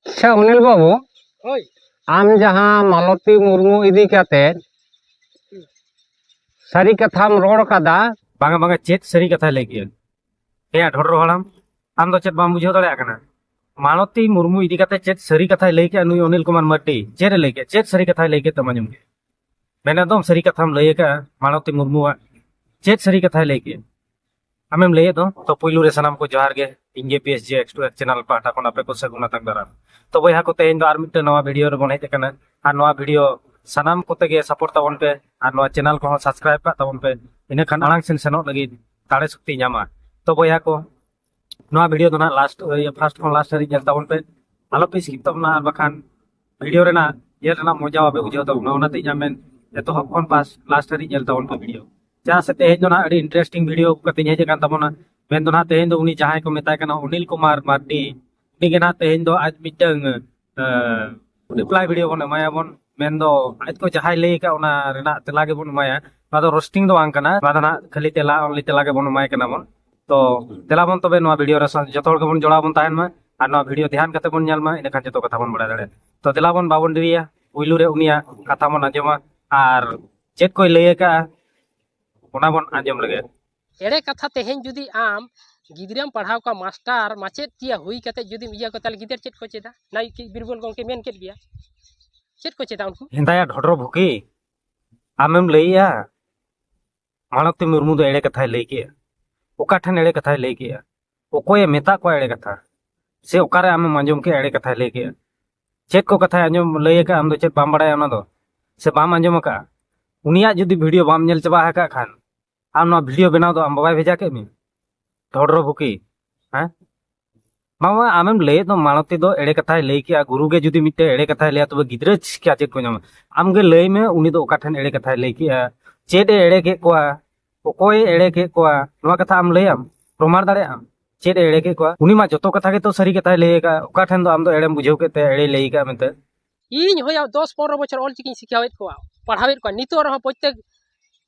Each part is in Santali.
ᱟᱪᱪᱷᱟ ᱚᱱᱤᱞ ᱵᱟᱹᱵᱩ ᱦᱳᱭ ᱟᱢ ᱡᱟᱦᱟᱸ ᱢᱟᱞᱚᱛᱤ ᱢᱩᱨᱢᱩ ᱤᱫᱤ ᱠᱟᱛᱮ ᱥᱟᱹᱨᱤ ᱠᱟᱛᱷᱟᱢ ᱨᱚᱲ ᱠᱟᱫᱟ ᱵᱟᱝᱟ ᱵᱟᱝᱟ ᱪᱮᱫ ᱥᱟᱹᱨᱤ ᱠᱟᱛᱷᱟᱭ ᱞᱟᱹᱭ ᱠᱮᱫᱟ ᱦᱮᱸ ᱰᱷᱚᱰᱨᱚ ᱦᱟᱲᱟᱢ ᱟᱢ ᱫᱚ ᱪᱮᱫ ᱵᱟᱢ ᱵᱩᱡᱷᱟᱹᱣ ᱫᱟᱲᱮᱭᱟᱜ ᱠᱟᱱᱟ ᱢᱟᱞᱚᱛᱤ ᱢᱩᱨᱢᱩ ᱤᱫᱤ ᱠᱟᱛᱮ ᱪᱮᱫ ᱥᱟᱹᱨᱤ ᱠᱟᱛᱷᱟᱭ ᱞᱟᱹᱭ ᱠᱮᱫᱟ ᱱᱩᱭ ᱚᱱᱤᱞ ᱠᱩᱢᱟᱨ ᱢᱟᱨᱰᱤ ᱪᱮᱫ ᱮ ᱞᱟᱹᱭ ᱠᱮᱫᱟ ᱪᱮᱫ ᱥᱟᱹᱨᱤ ᱠᱟᱛᱷᱟᱭ ᱞᱟᱹᱭ ᱠᱮᱫ ᱛᱟᱢᱟ ᱟᱸᱡᱚᱢ ᱠᱮᱫ ᱢᱮᱱᱮᱫ ᱫᱚᱢ ᱥᱟᱹᱨᱤ ᱠᱟᱛᱷᱟᱢ ᱞᱟᱹᱭ ᱟᱠᱟᱫᱼᱟ ᱢᱟᱞᱚᱛᱤ ᱢᱩᱨᱢᱩᱣᱟᱜ ᱪᱮᱫ ᱥᱟᱹᱨᱤ ᱠᱟᱛᱷᱟᱭ ᱞᱟᱹᱭ ᱠᱮᱫᱼᱟ ᱟᱢᱮᱢ ᱞᱟᱹᱭᱮᱫ ᱫᱚ ᱛᱚ ᱯᱩᱭᱞᱩ ᱨᱮ ᱥᱟᱱᱟᱢ ᱠᱚ ᱡᱚᱦᱟᱨ ᱜᱮ ᱤᱧ ᱜᱮ P S J X two X channel ᱯᱟᱦᱴᱟ ᱠᱷᱚᱱ ᱟᱯᱮ ᱠᱚ ᱥᱟᱹᱜᱩᱱ ᱟᱛᱟᱝ ᱫᱟᱨᱟᱢ ᱛᱚ ᱵᱚᱭᱦᱟ ᱠᱚ ᱛᱮᱦᱮᱧ ᱫᱚ ᱟᱨ ᱢᱤᱫᱴᱟᱝ ᱱᱚᱣᱟ ᱵᱷᱤᱰᱤᱭᱳ ᱨᱮᱵᱚᱱ ᱦᱮᱡ ᱟᱠᱟᱱᱟ ᱟᱨ ᱱᱚᱣᱟ ᱵᱷᱤᱰᱤᱭᱳ ᱥᱟᱱᱟᱢ ᱠᱚᱛᱮ ᱜᱮ ᱥᱟᱯᱳᱨᱴ ᱛᱟᱵᱚᱱ ᱯᱮ ᱟᱨ ᱱᱚᱣᱟ ᱪᱮᱱᱟᱞ ᱠᱚᱦᱚᱸ ᱥᱟᱵᱥᱠᱨᱟᱭᱤᱵ ᱠᱟᱜ ᱛᱟᱵᱚᱱ ᱯᱮ ᱤᱱᱟᱹ ᱠᱷᱟᱱ ᱟᱲᱟᱝ ᱥᱮᱱ ᱥᱮᱱᱚᱜ ᱞᱟᱹᱜᱤᱫ ᱫᱟᱲᱮ ᱥᱚᱠᱛᱤ ᱧᱟᱢᱟ ᱛᱚ ᱵᱚᱭᱦᱟ ᱠᱚ ᱱᱚᱣᱟ ᱵᱷᱤᱰᱤᱭᱳ ᱫᱚ ᱱᱟᱜ ᱞᱟᱥᱴ ᱯᱷᱟᱨᱥᱴ ᱠᱷᱚᱱ ᱞᱟᱥᱴ ᱦᱟᱹᱨᱤᱡ ᱧᱮᱞ ᱛᱟᱵᱚᱱ ᱯᱮ ᱟᱞᱚ ᱯᱮ ᱥᱠᱤᱯ ᱛᱟᱵᱚᱱᱟ ᱟᱨ ᱵᱟᱠᱷᱟᱱ ᱵᱷᱤᱰᱤᱭᱳ ᱨᱮᱱᱟᱜ ᱧᱮᱞ ᱨᱮᱱᱟᱜ ᱢᱚᱡᱟ ᱵᱟᱯᱮ ᱵᱩᱡᱷᱟᱹᱣ ᱛᱟᱵᱚᱱᱟ ᱚᱱᱟᱛᱮ ᱤᱧᱟᱹᱜ ᱢᱮᱱ ᱮᱛᱚᱦᱚᱵ ᱠᱷᱚᱱ ᱯᱟᱥ ᱞᱟᱥᱴ ᱦᱟᱹᱨᱤᱡ ᱧᱮᱞ ᱛᱟᱵᱚᱱ ᱯᱮ ᱵᱷᱤᱰᱤᱭᱳ ᱪᱮᱫᱟᱜ ᱥᱮ ᱛᱮᱦᱮᱧ ᱫᱚ ᱱᱟᱦᱟᱜ ᱟᱹᱰᱤ ᱤᱱᱴᱟᱨᱮᱥᱴᱤᱝ ᱵᱷᱤᱰᱤᱭᱳ ᱟᱹᱜᱩ ᱠᱟᱛᱮᱧ ᱦᱮᱡ ᱟᱠᱟᱱ ᱛᱟᱵᱚᱱᱟ ᱢᱮᱱ ᱫᱚ ᱱᱟᱦᱟᱜ ᱛᱮᱦᱮᱧ ᱫᱚ ᱩᱱᱤ ᱡᱟᱦᱟᱸᱭ ᱠᱚ ᱢᱮᱛᱟᱭ ᱠᱟᱱᱟ ᱚᱱᱤᱞ ᱠᱩᱢᱟᱨ ᱢᱟᱨᱰᱤ ᱩᱱᱤ ᱜᱮ ᱱᱟᱦᱟᱜ ᱛᱮᱦᱮᱧ ᱫᱚ ᱟᱡ ᱢᱤᱫᱴᱟᱝ ᱨᱤᱯᱞᱟᱭ ᱵᱷᱤᱰᱤᱭᱳ ᱵᱚᱱ ᱮᱢᱟᱭᱟᱵᱚᱱ ᱢᱮᱱ ᱫᱚ ᱟᱡ ᱠᱚ ᱡᱟᱦᱟᱸᱭ ᱞᱟᱹᱭ ᱟᱠᱟᱫ ᱚᱱᱟ ᱨᱮᱱᱟᱜ ᱛᱮᱞᱟ ᱜᱮᱵᱚᱱ ᱮᱢᱟᱭᱟ ᱱᱚᱣᱟ ᱫᱚ ᱨᱳᱥᱴᱤᱝ ᱫᱚ ᱵᱟᱝ ᱠᱟᱱᱟ ᱱᱚᱣᱟ ᱫᱚ ᱱᱟᱦᱟᱜ ᱠᱷᱟᱹᱞᱤ ᱛᱮᱞᱟ ᱚᱱᱞᱤ ᱛᱮᱞᱟ ᱜᱮᱵᱚᱱ ᱮᱢᱟᱭ ᱠᱟᱱᱟ ᱵᱚᱱ ᱛᱚ ᱫᱮᱞᱟ ᱵᱚᱱ ᱛᱚᱵᱮ ᱱᱚᱣᱟ ᱵᱷᱤᱰᱤᱭᱳ ᱨᱮ ᱡᱚᱛᱚ ᱦᱚᱲ ᱜᱮᱵᱚᱱ ᱡᱚᱲᱟᱣ ᱵᱚᱱ ᱛᱟᱦᱮᱱ ᱢᱟ ᱟᱨ ᱱᱚᱣᱟ ᱵᱷᱤᱰᱤᱭᱳ ᱫᱷᱮᱭᱟᱱ ᱠᱟᱛᱮ ᱵᱚᱱ ᱧᱮᱞ ᱢᱟ ᱤᱱᱟᱹᱠᱷᱟᱱ ᱡᱚᱛᱚ ᱠᱟᱛᱷᱟ ᱵᱚᱱ ᱵᱟᱲᱟᱭ ᱫᱟᱲᱮᱭᱟᱜᱼᱟ ᱛᱚ ᱫᱮᱞᱟ ᱵᱚᱱ ᱵᱟᱵᱚᱱ ᱰᱮᱨᱤᱭᱟ ᱯᱩᱭᱞᱩ ᱨᱮ ᱩᱱᱤᱭᱟᱜ ᱠᱟᱛᱷᱟ ᱵᱚᱱ ᱟᱸᱡᱚᱢᱟ ᱟᱨ ᱪᱮᱫ ᱠᱚᱭ ᱞᱟᱹᱭ ᱟᱠᱟᱜᱼᱟ ᱚᱱᱟ ᱵᱚᱱ ᱟᱸᱡᱚᱢ ᱞᱮᱜᱮ ᱮᱲᱮ ᱠᱟᱛᱷᱟ ᱛᱮᱦᱮᱧ ᱡᱩᱫᱤ ᱟᱢ ᱜᱤᱫᱽᱨᱟᱹᱢ ᱯᱟᱲᱦᱟᱣ ᱠᱚᱣᱟ ᱢᱟᱥᱴᱟᱨ ᱢᱟᱪᱮᱫ ᱛᱤᱭᱟ ᱦᱩᱭ ᱠᱟᱛᱮ ᱡᱩᱫᱤ ᱤᱭᱟᱹ ᱠᱚ ᱛᱟᱦᱚᱞᱮ ᱜᱤᱫᱟᱹᱨ ᱪᱮᱫ ᱠᱚ ᱪᱮᱫᱟ ᱱᱟᱭ ᱵᱤᱨᱵᱚᱞ ᱜᱚᱢᱠᱮ ᱢᱮᱱ ᱠᱮᱫ ᱜᱮᱭᱟ ᱪᱮᱫ ᱠᱚ ᱪᱮᱫᱟ ᱩᱱᱠᱩ ᱦᱮᱸᱫᱟᱭᱟ ᱰᱷᱚᱰᱨᱚ ᱵᱷᱩᱠᱤ ᱟᱢᱮᱢ ᱞᱟᱹᱭᱮᱜᱼᱟ ᱢᱟᱞᱚᱛᱤ ᱢᱩᱨᱢᱩ ᱫᱚ ᱮᱲᱮ ᱠᱟᱛᱷᱟᱭ ᱞᱟᱹᱭ ᱠᱮᱜᱼᱟ ᱚᱠᱟ ᱴᱷᱮᱱ ᱮᱲᱮ ᱠᱟᱛᱷᱟᱭ ᱞᱟᱹᱭ ᱠᱮᱜᱼᱟ ᱚᱠᱚᱭᱮ ᱢᱮᱛᱟᱜ ᱠᱚᱣᱟ ᱮᱲᱮ ᱠᱟᱛᱷᱟ ᱥᱮ ᱚᱠᱟᱨᱮ ᱟᱢᱮᱢ ᱟᱸᱡᱚᱢ ᱠᱮᱜᱼᱟ ᱮᱲᱮ ᱠᱟᱛᱷᱟᱭ ᱞᱟᱹᱭ ᱠᱮᱜᱼᱟ ᱪᱮᱫ ᱠᱚ ᱠᱟᱛᱷᱟᱭ ᱟᱸᱡᱚᱢ ᱞᱟᱹᱭ ᱟᱠᱟᱫ ᱟᱢ ᱫᱚ ᱪᱮᱫ ᱵᱟᱢ ᱵᱟᱲᱟᱭᱟ ᱚᱱᱟ ᱫᱚ ᱥᱮ ᱵᱟᱢ ᱟᱸᱡᱚᱢ ᱟᱠᱟᱫᱼᱟ ᱩᱱᱤᱭᱟᱜ ᱡᱩᱫᱤ ᱵᱷᱤᱰᱤᱭᱳ ᱵᱟᱢ ᱧᱮᱞ ᱪᱟᱵᱟ ᱟᱠᱟᱫ ᱠᱷᱟᱱ ᱟᱢ ᱱᱚᱣᱟ ᱵᱷᱤᱰᱤᱭᱳ ᱵᱮᱱᱟᱣ ᱫᱚ ᱟᱢ ᱵᱟᱵᱟᱭ ᱵᱷᱮᱡᱟ ᱠᱮᱫ ᱢᱮ ᱰᱷᱚᱰᱨᱚ ᱵᱷᱩᱠᱤ ᱦᱮᱸ ᱢᱟᱢᱟ ᱟᱢᱮᱢ ᱞᱟᱹᱭᱮᱫ ᱫᱚ ᱢᱟᱲᱚᱛᱤ ᱫᱚ ᱮᱲᱮ ᱠᱟᱛᱷᱟᱭ ᱞᱟᱹᱭ ᱠᱮᱜᱼᱟ ᱜᱩᱨᱩ ᱜᱮ ᱡᱩᱫᱤ ᱢᱤᱫᱴᱮᱱ ᱮᱲᱮ ᱠᱟᱛᱷᱟᱭ ᱞᱟᱹᱭᱟ ᱛᱚᱵᱮ ᱜᱤᱫᱽᱨᱟᱹ ᱪᱤᱠᱟ ᱪᱮᱫ ᱠᱚ ᱧᱟᱢᱟ ᱟᱢᱜᱮ ᱞᱟᱹᱭ ᱢᱮ ᱩᱱᱤ ᱫᱚ ᱚᱠᱟ ᱴᱷᱮᱱ ᱮᱲᱮ ᱠᱟᱛᱷᱟᱭ ᱞᱟᱹᱭ ᱠᱮᱜᱼᱟ ᱪᱮᱫ ᱮ ᱮᱲᱮ ᱠᱮᱫ ᱠᱚᱣᱟ ᱚᱠᱚᱭ ᱮᱲᱮ ᱠᱮᱫ ᱠᱚᱣᱟ ᱱᱚᱣᱟ ᱠᱟᱛᱷᱟ ᱟᱢ ᱞᱟᱹᱭᱟᱢ ᱯᱨᱚᱢᱟᱬ ᱫᱟᱲᱮᱭᱟᱜ ᱟᱢ ᱪᱮᱫ ᱮ ᱮᱲᱮ ᱠᱮᱫ ᱠᱚᱣᱟ ᱩᱱᱤ ᱢᱟ ᱡᱚᱛᱚ ᱠᱟᱛᱷᱟ ᱜᱮᱛᱚ ᱥᱟᱹᱨᱤ ᱠᱟᱛᱷᱟᱭ ᱞᱟᱹᱭ ᱟᱠᱟᱫ ᱚᱠᱟ ᱴᱷᱮᱱ ᱫᱚ ᱟᱢ ᱫᱚ ᱮᱲᱮᱢ ᱵᱩᱡᱷᱟᱹᱣ ᱠᱮᱫ ᱛᱮ ᱮᱲᱮ ᱞᱟᱹᱭ ᱟᱠᱟᱫ ᱢᱮᱱᱛᱮ ᱤᱧ ᱦᱚᱭᱟ ᱫᱚᱥ ᱯᱚᱱᱨᱚ ᱵᱚᱪᱷᱚᱨ ᱚᱞ ᱪᱤᱠᱤᱧ ᱥᱤᱠᱷᱟᱹᱣᱮᱫ ᱠᱚᱣᱟ ᱯᱟᱲᱦᱟᱣᱮᱫ ᱠᱚᱣᱟ ᱱᱤᱛᱚᱜ ᱨᱮᱦᱚᱸ ᱯᱨᱚᱛᱮᱠ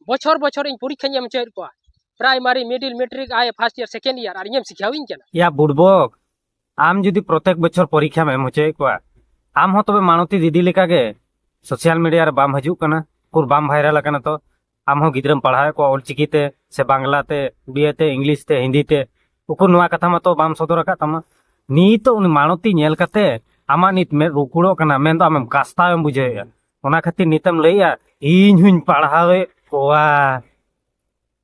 ᱵᱚᱪᱷᱚᱨ ᱵᱚᱪᱷᱚᱨ ᱤᱧ ᱯᱚᱨᱤᱠᱠᱷᱟᱧ ᱮᱢ ᱦᱚᱪᱚᱭᱮᱫ ᱠᱚᱣᱟ primary middle matric I first year second year ᱟᱨ ᱤᱧᱮᱢ ᱥᱤᱠᱷᱟᱹᱣᱤᱧ ᱠᱟᱱᱟ ᱭᱟ ᱵᱩᱲᱵᱚᱠ ᱟᱢ ᱡᱩᱫᱤ ᱯᱨᱚᱛᱮᱠ ᱵᱚᱪᱷᱚᱨ ᱯᱚᱨᱤᱠᱠᱷᱟᱢ ᱮᱢ ᱦᱚᱪᱚᱭᱮᱫ ᱠᱚᱣᱟ ᱟᱢ ᱦᱚᱸ ᱛᱚᱵᱮ ᱢᱟᱬᱚᱛᱤ ᱫᱤᱫᱤ ᱞᱮᱠᱟᱜᱮ ᱥᱳᱥᱟᱞ ᱢᱤᱰᱤᱭᱟ ᱨᱮ ᱵᱟᱢ ᱦᱤᱡᱩᱜ ᱠᱟᱱᱟ ᱩᱠᱩᱨ ᱵᱟᱢ ᱵᱷᱟᱭᱨᱟᱞ ᱟᱠᱟᱱᱟ ᱛᱚ ᱟᱢ ᱦᱚᱸ ᱜᱤᱫᱽᱨᱟᱹᱢ ᱯᱟᱲᱦᱟᱣᱮᱫ ᱠᱚᱣᱟ ᱚᱞᱪᱤᱠᱤ ᱛᱮ ᱥᱮ ᱵᱟᱝᱞᱟ ᱛᱮ ᱩᱲᱤᱭᱟ ᱛᱮ ᱤᱝᱞᱤᱥ ᱛᱮ ᱦᱤᱱᱫᱤ ᱛᱮ ᱩᱠᱩᱨ ᱱᱚᱣᱟ ᱠᱟᱛᱷᱟ ᱢᱟᱛᱚ ᱵᱟᱢ ᱥᱚᱫᱚᱨ ᱟᱠᱟᱫ ᱛᱟᱢᱟ ᱱᱤᱛᱚᱜ ᱩᱱᱤ ᱢᱟᱲᱚᱛᱤ ᱧᱮᱞ ᱠᱟᱛᱮ ᱟᱢᱟᱜ ᱱᱤᱛ ᱢᱮᱫ ᱨᱩᱠᱩᱲᱚᱜ ᱠᱟᱱᱟ ᱢᱮᱱᱫᱚ ᱟᱢᱮᱢ ᱠᱟᱥᱛᱟᱣᱮᱢ ᱵᱩᱡᱷᱟᱹᱣᱮᱫᱼᱟ ᱚᱱᱟ ᱠᱷᱟᱹᱛᱤᱨ ᱱᱤᱛᱮᱢ ᱞᱟᱹᱭᱮᱫᱼᱟ ᱤᱧ ᱦᱚᱧ ᱯᱟᱲᱦᱟᱣᱮᱫ ᱠᱚᱣᱟ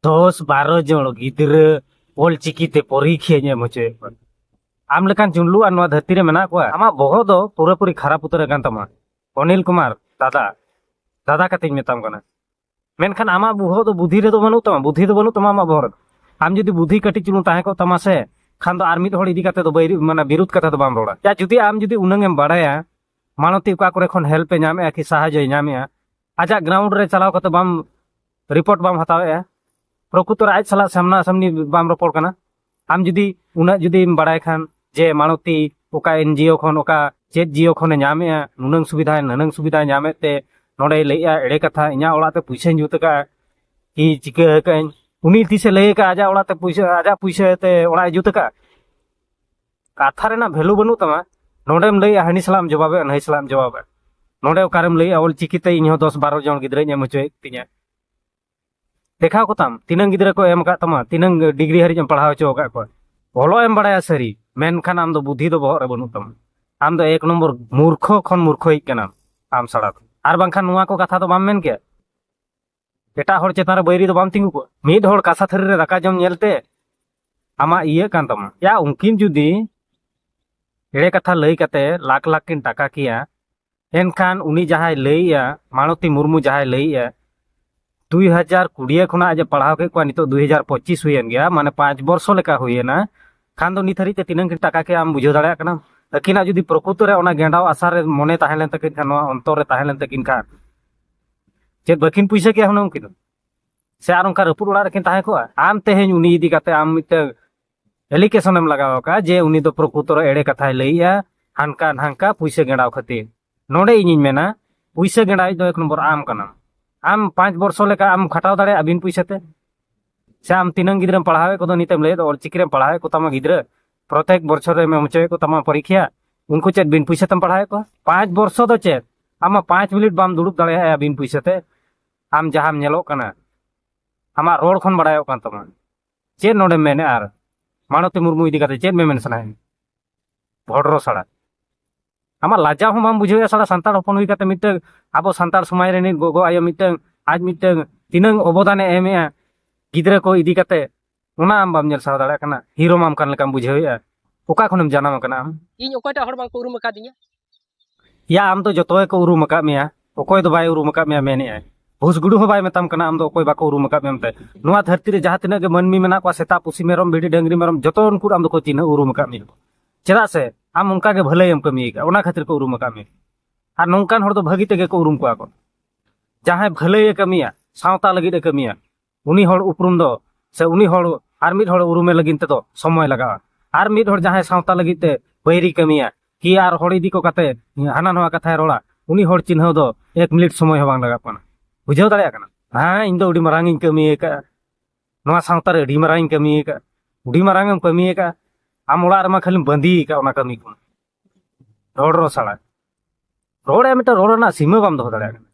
ᱫᱚᱥ ᱵᱟᱨᱚ ᱡᱚᱱ ᱜᱤᱫᱽᱨᱟᱹ ᱚᱞᱪᱤᱠᱤ ᱛᱮ ᱯᱚᱨᱤᱠᱷᱟᱧ ᱮᱢ ᱦᱚᱪᱚᱭᱮᱫ ᱠᱚᱣᱟ ᱟᱢ ᱞᱮᱠᱟᱱ ᱡᱩᱱᱞᱩ ᱟᱨ ᱱᱚᱣᱟ ᱫᱷᱟᱹᱨᱛᱤ ᱨᱮ ᱢᱮᱱᱟᱜ ᱠᱚᱣᱟ ᱟᱢᱟᱜ ᱵᱚᱦᱚᱜ ᱫᱚ ᱯᱩᱨᱟᱹᱯᱩᱨᱤ ᱠᱷᱟᱨᱟᱯ ᱩᱛᱟᱹᱨ ᱟᱠᱟᱱ ᱛᱟᱢᱟ ᱚᱱᱤᱞ ᱠᱩᱢᱟᱨ ᱫᱟᱫᱟ ᱫᱟᱫᱟ ᱠᱟᱛᱮᱧ ᱢᱮᱛᱟᱢ ᱠᱟᱱᱟ ᱢᱮᱱᱠᱷᱟᱱ ᱟᱢᱟᱜ ᱵᱚᱦᱚᱜ ᱫᱚ ᱵᱩᱫᱷᱤ ᱨᱮᱫᱚ ᱵᱟᱹᱱᱩᱜ ᱛᱟᱢᱟ ᱵᱩᱫᱷᱤ ᱫᱚ ᱵᱟᱹᱱᱩᱜ ᱛᱟᱢᱟ ᱟᱢᱟᱜ ᱵᱚᱦᱚᱜ ᱨᱮᱫᱚ ᱟᱢ ᱡᱩᱫᱤ ᱵᱩᱫᱷᱤ ᱠᱟᱹᱴᱤᱡ ᱪᱩᱞᱩᱝ ᱛᱟᱦᱮᱸ ᱠᱚᱜ ᱛᱟᱢᱟ ᱥᱮ ᱠᱷᱟᱱ ᱫᱚ ᱟᱨ ᱢᱤᱫ ᱦᱚᱲ ᱤᱫᱤ ᱠᱟᱛᱮ ᱫᱚ ᱵᱟᱹᱭ ᱢᱟᱱᱮ ᱵᱤᱨᱩᱫᱷ ᱠᱟᱛᱷᱟ ᱫᱚ ᱵᱟᱢ ᱨᱚᱲᱟ ᱡᱟ ᱡᱩᱫᱤ ᱟᱢ ᱡᱩᱫᱤ ᱩᱱᱟᱹᱝ ᱮᱢ ᱵᱟᱲᱟᱭᱟ ᱢᱟᱱᱚᱛᱤ ᱚᱠᱟ ᱠᱚᱨᱮ ᱠᱷᱚᱱ ᱦᱮᱞᱯ ᱮ ᱧᱟᱢᱮᱜᱼᱟ ᱠᱤ ᱥᱟᱦᱟᱡᱚᱭ ᱧᱟᱢᱮᱜᱼᱟ ᱟᱡᱟᱜ ᱜᱨᱟᱣᱩᱱᱰ ᱨᱮ ᱪᱟᱞᱟᱣ ᱠᱟᱛᱮ ᱵᱟᱢ ᱨᱤᱯᱳᱨᱴ ᱵᱟᱢ ᱦᱟᱛᱟᱣᱮᱜᱼᱟ ᱯᱨᱚᱠᱩᱛᱚᱨ ᱟᱡ ᱥᱟᱞᱟᱜ ᱥᱟᱢᱱᱟ ᱥᱟᱢᱱᱤ ᱵᱟᱢ ᱨᱚᱯᱚᱲ ᱠᱟᱱᱟ ᱟᱢ ᱡᱩᱫᱤ ᱩᱱᱟᱹᱜ ᱡᱩᱫᱤᱢ ᱵᱟᱲᱟᱭ ᱠᱷᱟᱱ ᱡᱮ ᱢᱟᱲᱚᱛᱤ ᱚᱠᱟ ᱮᱱᱡᱤᱭᱳ ᱠᱷᱚᱱ ᱚᱠᱟ ᱪᱮᱫ ᱡᱤᱭᱳ ᱠᱷᱚᱱᱮ ᱧᱟᱢᱮᱜᱼᱟ ᱱᱩᱱᱟᱹᱝ ᱥᱩᱵᱤᱫᱷᱟ ᱱᱩᱱᱟᱹᱝ ᱥᱩᱵᱤᱫᱷᱟ ᱧᱟᱢᱮᱫ ᱛᱮ ᱱᱚᱰᱮ ᱞᱟᱹᱭᱮᱜᱼᱟ ᱮᱲᱮ ᱠᱟᱛᱷᱟ ᱤᱧᱟᱹᱜ ᱚᱲᱟᱜ ᱛᱮ ᱯᱩᱭᱥᱟᱹᱧ ᱡᱩᱛ ᱟᱠᱟᱫᱼᱟ ᱠᱤ ᱪᱤᱠᱟᱹ ᱟᱠᱟᱫᱟᱹᱧ ᱩᱱᱤ ᱛᱤᱥᱮ ᱞᱟᱹᱭ ᱟᱠᱟᱫᱼᱟ ᱟᱡᱟᱜ ᱚᱲᱟᱜ ᱛᱮ ᱯᱩᱭᱥᱟᱹ ᱟᱡᱟᱜ ᱯᱩᱭᱥᱟᱹ ᱛᱮ ᱚᱲᱟᱜ ᱮ ᱡᱩᱛ ᱟᱠᱟᱫᱼᱟ ᱠᱟᱛᱷᱟ ᱨᱮᱱᱟᱜ ᱵᱷᱮᱞᱩ ᱵᱟᱹᱱᱩᱜ ᱛᱟᱢᱟ ᱱᱚᱰᱮᱢ ᱞᱟᱹᱭᱮᱜᱼᱟ ᱦᱟᱹᱱᱤ ᱥᱟᱞᱟᱜ ᱮᱢ ᱡᱚᱵᱟᱵᱮᱜᱼᱟ ᱱᱟᱹᱭ ᱥᱟᱞᱟᱜ ᱮᱢ ᱡᱚᱵᱟᱵᱮᱜᱼᱟ ᱱᱚᱰᱮ ᱚᱠᱟᱨᱮᱢ ᱞᱟᱹᱭᱮᱜᱼᱟ ᱚᱞ ᱪᱤᱠᱤᱛᱮ ᱤᱧᱦᱚᱸ ᱫᱚᱥ ᱵᱟᱨᱚ ᱡᱚᱱ ᱜᱤᱫᱽᱨᱟᱹᱧ ᱮᱢ ᱦᱚᱪᱚᱭᱮᱫ ᱛᱤᱧᱟ ᱫᱮᱠᱷᱟᱣ ᱠᱚᱛᱟᱢ ᱛᱤᱱᱟᱹᱝ ᱜᱤᱫᱽᱨᱟᱹ ᱠᱚ ᱮᱢ ᱟᱠᱟᱫ ᱛᱟᱢᱟ ᱛᱤᱱᱟᱹᱝ ᱰᱤᱜᱽᱨᱤ ᱦᱟᱹᱨᱤᱡ ᱮᱢ ᱯᱟᱲᱦᱟᱣ ᱦᱚᱪᱚ ᱟᱠᱟᱫ ᱠᱚᱣᱟ ᱚᱞᱚᱜ ᱮᱢ ᱵᱟᱲᱟᱭᱟ ᱥᱟᱹᱨᱤ ᱢᱮᱱᱠᱷᱟᱱ ᱟᱢ ᱫᱚ ᱵᱩᱫᱷᱤ ᱫᱚ ᱵᱚᱦᱚᱜ ᱨᱮ ᱵᱟᱹᱱᱩᱜ ᱛᱟᱢᱟ ᱟᱢ ᱫᱚ ᱮᱠ ᱱᱚᱢᱵᱚᱨ ᱢᱩᱨᱠᱷᱚ ᱠᱷᱚᱱ ᱢᱩᱨᱠᱷᱚᱭᱤᱡ ᱠᱟᱱᱟᱢ ᱟᱢ ᱥᱟᱲᱟ ᱫᱚ ᱟᱨ ᱵᱟᱝᱠᱷᱟᱱ ᱱᱚᱣᱟ ᱠᱚ ᱠᱟᱛᱷᱟ ᱫᱚ ᱵᱟᱢ ᱢᱮᱱ ᱠᱮᱭᱟ ᱮᱴᱟᱜ ᱦᱚᱲ ᱪᱮᱛᱟᱱ ᱨᱮ ᱵᱟᱹᱭᱨᱤ ᱫᱚ ᱵᱟᱢ ᱛᱤᱸᱜᱩ ᱠᱚᱜᱼᱟ ᱢᱤᱫ ᱦᱚᱲ ᱠᱟᱥᱟ ᱛᱷᱟᱹᱨᱤ ᱨᱮ ᱫᱟᱠᱟ ᱡᱚᱢ ᱧᱮᱞᱛᱮ ᱟᱢᱟᱜ ᱤᱭᱟᱹ ᱠᱟᱱ ᱛᱟᱢᱟ ᱭᱟ ᱩᱱᱠᱤᱱ ᱡᱩᱫᱤ ᱮᱲᱮ ᱠᱟᱛᱷᱟ ᱞᱟᱹᱭ ᱠᱟᱛᱮ ᱞᱟᱠᱷ ᱞᱟᱠᱷ ᱠᱤᱱ ᱴᱟᱠᱟ ᱠᱮᱭᱟ ᱮᱱᱠᱷᱟᱱ ᱩᱱᱤ ᱡᱟᱦᱟᱸᱭ ᱞᱟᱹᱭᱮᱜᱼᱟ ᱢᱟᱲᱚᱛᱤ ᱢᱩᱨᱢᱩ ᱡᱟᱦᱟᱸᱭ ᱞᱟᱹᱭᱮᱜᱼᱟ ᱫᱩᱭ ᱦᱟᱡᱟᱨ ᱠᱩᱲᱤᱭᱟᱹ ᱠᱷᱚᱱᱟᱜ ᱟᱡ ᱯᱟᱲᱦᱟᱣ ᱠᱮᱫ ᱠᱚᱣᱟ ᱱᱤᱛᱚᱜ ᱫᱩᱭ ᱦᱟᱡᱟᱨ ᱯᱚᱸᱪᱤᱥ ᱦᱩᱭᱮᱱ ᱜᱮᱭᱟ ᱢᱟᱱᱮ ᱯᱟᱸᱪ ᱵᱚᱨᱥᱚ ᱞᱮᱠᱟ ᱦᱩᱭᱮᱱᱟ ᱠᱷᱟᱱ ᱫᱚ ᱱᱤᱛ ᱦᱟᱹᱨᱤᱡ ᱛᱮ ᱛᱤᱱᱟᱹᱝ ᱠᱤᱱ ᱴᱟᱠᱟ ᱠᱮᱫᱼᱟ ᱟᱢ ᱵᱩᱡᱷᱟᱹᱣ ᱫᱟᱲᱮᱭᱟᱜ ᱠᱟᱱᱟ ᱟᱹᱠᱤᱱᱟᱜ ᱡᱩᱫᱤ ᱯᱨᱚᱠᱩᱛᱚ ᱨᱮ ᱚᱱᱟ ᱜᱮᱸᱰᱟᱣ ᱟᱥᱟ ᱨᱮ ᱢᱚᱱᱮ ᱛᱟᱦᱮᱸ ᱞᱮᱱ ᱛᱟᱹᱠᱤᱱ ᱠᱷᱟᱱ ᱱᱚᱣᱟ ᱚᱱᱛᱚᱨ ᱨᱮ ᱛᱟᱦᱮᱸ ᱞᱮᱱ ᱛᱟᱹᱠᱤᱱ ᱠᱷᱟᱱ ᱪᱮᱫ ᱵᱟᱹᱠᱤᱱ ᱯᱩᱭᱥᱟᱹ ᱠᱮᱭᱟ ᱦᱩᱱᱟᱹᱝ ᱩᱱᱠᱤᱱ ᱫᱚ ᱥᱮ ᱟᱨ ᱚᱱᱠᱟ ᱨᱟᱹᱯᱩᱫ ᱚᱲᱟᱜ ᱨᱮᱠᱤᱱ ᱛᱟᱦᱮᱸ ᱠᱚᱜᱼᱟ ᱟᱢ ᱛᱮᱦᱮᱧ ᱩᱱᱤ ᱤᱫᱤ ᱠᱟᱛᱮ ᱟᱢ ᱢᱤᱫᱴᱟᱝ ᱮᱞᱤᱠᱮᱥᱚᱱ ᱮᱢ ᱞᱟᱜᱟᱣ ᱟᱠᱟᱫᱼᱟ ᱡᱮ ᱩᱱᱤ ᱫᱚ ᱯᱨᱚᱠᱩᱛᱚᱨ ᱮᱲᱮ ᱠᱟᱛᱷᱟᱭ ᱞᱟᱹᱭᱮᱜᱼᱟ ᱦᱟᱱᱠᱟ ᱱᱟᱝᱠᱟ ᱯᱩᱭᱥᱟᱹ ᱜᱮᱸᱰᱟᱣ ᱠᱷᱟᱹᱛᱤᱨ ᱱᱚᱰᱮ ᱤᱧᱤᱧ ᱢᱮᱱᱟ ᱯᱩᱭᱥᱟᱹ ᱜᱮᱸᱰᱟᱣ ᱫᱚ ᱮᱠ ᱱᱚᱢᱵᱚᱨ ᱟᱢ ᱠᱟᱱᱟᱢ ᱟᱢ ᱯᱟᱸᱪ ᱵᱚᱨᱥᱚ ᱞᱮᱠᱟ ᱟᱢ ᱠᱷᱟᱴᱟᱣ ᱫᱟᱲᱮᱭᱟᱜᱼᱟ ᱵᱤᱱ ᱯᱩᱭᱥᱟᱹ ᱛᱮ ᱥᱮ ᱟᱢ ᱛᱤᱱᱟᱹᱝ ᱜᱤᱫᱽᱨᱟᱹᱢ ᱯᱟᱲᱦᱟᱣᱮᱫ ᱠᱚᱫᱚ ᱱᱤᱛᱮᱢ ᱞᱟᱹᱭᱮᱫ ᱚᱞᱪᱤᱠᱤ ᱨᱮᱢ ᱯᱟᱲᱦᱟᱣᱮᱫ ᱠᱚ ᱛᱟᱢᱟ ᱜᱤᱫᱽᱨᱟᱹ ᱯᱨᱚᱛᱮᱠ ᱵᱚᱪᱷᱚᱨ ᱨᱮᱢ ᱮᱢ ᱦᱚᱪᱚᱭᱮᱫ ᱠᱚ ᱛᱟᱢᱟ ᱯᱚᱨᱤᱠᱷᱟ ᱩᱱᱠᱩ ᱪᱮᱫ ᱵᱤᱱ ᱯᱩᱭᱥᱟᱹ ᱛᱮᱢ ᱯᱟᱲᱦᱟᱣᱮᱫ ᱠᱚᱣᱟ ᱯᱟᱸᱪ ᱵᱚᱨᱥᱚ ᱫᱚ ᱪᱮᱫ ᱟᱢᱟᱜ ᱯᱟᱸᱪ ᱢᱤᱱᱤᱴ ᱵᱟᱢ ᱫᱩᱲᱩᱵ ᱫᱟᱲᱮᱭᱟᱜᱼᱟ ᱵᱤᱱ ᱯᱩᱭᱥᱟᱹ ᱛᱮ ᱟᱢ ᱡᱟᱦᱟᱸᱢ ᱧᱮᱞᱚᱜ ᱠᱟᱱᱟ ᱟᱢᱟᱜ ᱨᱚᱲ ᱠᱷᱚᱱ ᱵᱟᱲᱟᱭᱚᱜ ᱠᱟᱱ ᱛᱟᱢᱟ ᱪᱮᱫ ᱱᱚᱰᱮ ᱢᱮᱱᱮᱫ ᱟᱨ ᱢᱟᱱᱚᱛᱤ ᱢᱩᱨᱢᱩ ᱤᱫᱤ ᱠᱟᱛᱮ ᱪᱮᱫ ᱢᱮᱢᱮᱱ ᱥᱟᱱᱟᱭᱮᱫ ᱵᱷᱚᱰᱨᱚ ᱥᱟᱲᱟ ᱟᱢᱟᱜ ᱞᱟᱡᱟᱣ ᱦᱚᱸ ᱵᱟᱢ ᱵᱩᱡᱷᱟᱹᱣᱮᱫᱼᱟ ᱥᱟᱲᱟ ᱥᱟᱱᱛᱟᱲ ᱦᱚᱯᱚᱱ ᱦᱩᱭ ᱠᱟᱛᱮ ᱢᱤᱫᱴᱟᱝ ᱟᱵᱚ ᱥᱟᱱᱛᱟᱲ ᱥᱚᱢᱟᱡᱽ ᱨᱤᱱᱤᱡ ᱜᱚᱜᱚ ᱟᱭᱳ ᱢᱤᱫᱴᱟᱝ ᱟᱡ ᱢᱤᱫᱴᱟᱝ ᱛᱤᱱᱟᱹᱝ ᱚᱵᱚᱫᱟᱱᱮ ᱮᱢᱮᱫᱼᱟ ᱜᱤᱫᱽᱨᱟᱹ ᱠᱚ ᱤᱫᱤ ᱠᱟᱛᱮ ᱚᱱᱟ ᱟᱢ ᱵᱟᱢ ᱧᱮᱞ ᱥᱟᱦᱟᱣ ᱫᱟᱲᱮᱭᱟᱜ ᱠᱟᱱᱟ ᱦᱤᱨᱚᱢ ᱟᱢ ᱠᱟᱱ ᱞᱮᱠᱟᱢ ᱵᱩᱡᱷᱟᱹᱣᱮᱫᱼᱟ ᱚᱠᱟ ᱠᱷᱚᱱᱮᱢ ᱡᱟᱱᱟᱢ ᱟᱠᱟᱱᱟ ᱟᱢ ᱤᱧ ᱚᱠᱚᱭᱴᱟᱜ ᱦᱚᱲ ᱵᱟᱝᱠᱚ ᱩᱨᱩᱢ ᱟᱠᱟᱫᱤᱧᱟ ᱭᱟ ᱟᱢ ᱫᱚ ᱡᱚᱛᱚ ᱜᱮᱠᱚ ᱩᱨᱩᱢ ᱟᱠᱟᱫ ᱢᱮᱭᱟ ᱚᱠᱚᱭ ᱫᱚ ᱵᱟᱭ ᱩᱨᱩᱢ ᱟᱠᱟᱫ ᱢᱮᱭᱟ ᱢᱮᱱᱮᱜᱼᱟᱭ ᱵᱷᱩᱥ ᱜᱩᱰᱩ ᱦᱚᱸ ᱵᱟᱭ ᱢᱮᱛᱟᱢ ᱠᱟᱱᱟ ᱟᱢ ᱫᱚ ᱚᱠᱚᱭ ᱵᱟᱠᱚ ᱩᱨᱩᱢ ᱟᱠᱟᱫ ᱢᱮᱭᱟ ᱢᱮᱱᱛᱮ ᱱᱚᱣᱟ ᱫᱷᱟᱹᱨᱛᱤ ᱨᱮ ᱡᱟᱦᱟᱸ ᱛᱤᱱᱟᱹᱜ ᱜᱮ ᱢᱟᱹᱱᱢᱤ ᱢᱮᱱᱟᱜ ᱠᱚᱣᱟ ᱥᱮᱛᱟ ᱯᱩᱥᱤ ᱢᱮᱨᱚᱢ ᱵᱷᱤᱰᱤ ᱰᱟᱹᱝᱨᱤ ᱢᱮᱨᱚᱢ ᱡᱚᱛᱚ ᱩᱱᱠᱩ ᱟᱢ ᱫᱚᱠᱚ ᱪᱤᱱᱦᱟᱹ ᱩᱨᱩᱢ ᱟᱠᱟᱫ ᱢᱮᱭᱟ ᱪᱮᱫᱟᱜ ᱥᱮ ᱟᱢ ᱚᱱᱠᱟ ᱜᱮ ᱵᱷᱟᱹᱞᱟᱹᱭᱮᱢ ᱠᱟᱹᱢᱤ ᱟᱠᱟᱫ ᱚᱱᱟ ᱠᱷᱟᱹᱛᱤᱨ ᱠᱚ ᱩᱨᱩᱢ ᱟᱠᱟᱫ ᱢᱮᱭᱟ ᱟᱨ ᱱᱚᱝᱠᱟᱱ ᱦᱚᱲ ᱫᱚ ᱵᱷᱟᱹᱜᱤ ᱛᱮᱜᱮ ᱠᱚ ᱩᱨᱩᱢ ᱠᱚᱣᱟ ᱠᱚ ᱡᱟᱦᱟᱸᱭ ᱵᱷᱟᱹᱞᱟᱹᱭᱮ ᱠᱟᱹᱢᱤᱭᱟ ᱥᱟᱶᱛᱟ ᱞᱟᱹᱜᱤᱫ ᱮ ᱠᱟᱹᱢᱤᱭᱟ ᱩᱱᱤ ᱦᱚᱲ ᱩᱯᱨᱩᱢ ᱫᱚ ᱥᱮ ᱩᱱᱤ ᱦᱚᱲ ᱟᱨ ᱢᱤᱫ ᱦᱚᱲ ᱩᱨᱩᱢᱮ ᱞᱟᱹᱜᱤᱫ ᱛᱮᱫᱚ ᱥᱚᱢᱚᱭ ᱞᱟᱜᱟᱜᱼᱟ ᱟᱨ ᱢᱤᱫ ᱦᱚᱲ ᱡᱟᱦᱟᱸᱭ ᱥᱟᱶᱛᱟ ᱞᱟᱹᱜᱤᱫ ᱛᱮ ᱵᱟᱹᱭᱨᱤ ᱠᱟᱹᱢᱤᱭᱟ ᱠᱤ ᱟᱨ ᱦᱚᱲ ᱤᱫᱤ ᱠᱚ ᱠᱟᱛᱮ ᱦᱟᱱᱟ ᱱᱚᱣᱟ ᱠᱟᱛᱷᱟᱭ ᱨᱚᱲᱟ ᱩᱱᱤ ᱦᱚᱲ ᱪᱤᱱᱦᱟᱹᱣ ᱫᱚ ᱮᱠ ᱢᱤᱱᱤᱴ ᱥᱚᱢᱚᱭ ᱦᱚᱸ ᱵᱟᱝ ᱞᱟᱜᱟᱜ ᱠᱟᱱᱟ ᱵᱩᱡᱷᱟᱹᱣ ᱫᱟᱲᱮᱭᱟᱜ ᱠᱟᱱᱟ ᱦᱮᱸ ᱤᱧ ᱫᱚ ᱟᱹᱰᱤ ᱢᱟᱨᱟᱝ ᱤᱧ ᱠᱟᱹᱢᱤ ᱟᱠᱟᱫᱼᱟ ᱱᱚᱣᱟ ᱥᱟᱶᱛᱟ ᱨᱮ ᱟᱹᱰᱤ ᱢᱟᱨᱟᱝ ᱤᱧ ᱠᱟᱹᱢᱤ ᱟᱠᱟᱫᱼᱟ ᱟᱹᱰᱤ ᱢᱟᱨᱟᱝ ᱮᱢ ᱠᱟᱹᱢᱤ ᱟᱠᱟᱫᱼᱟ ᱟᱢ ᱚᱲᱟᱜ ᱨᱮᱢᱟ ᱠᱷᱟᱹᱞᱤᱢ ᱵᱟᱸᱫᱤ ᱟᱠᱟᱫ ᱚᱱᱟ ᱠᱟᱹᱢᱤ ᱠᱚ ᱨᱚᱲ ᱨᱚᱲ ᱥᱟᱲᱟ ᱨᱚᱲᱮᱫ ᱢᱤᱫᱴᱟᱝ ᱨᱚᱲ ᱨᱮᱱᱟᱜ ᱥᱤᱢᱟᱹ ᱵᱟᱢ ᱫᱚᱦᱚ ᱫᱟᱲᱮᱭᱟᱜ ᱠᱟᱱᱟ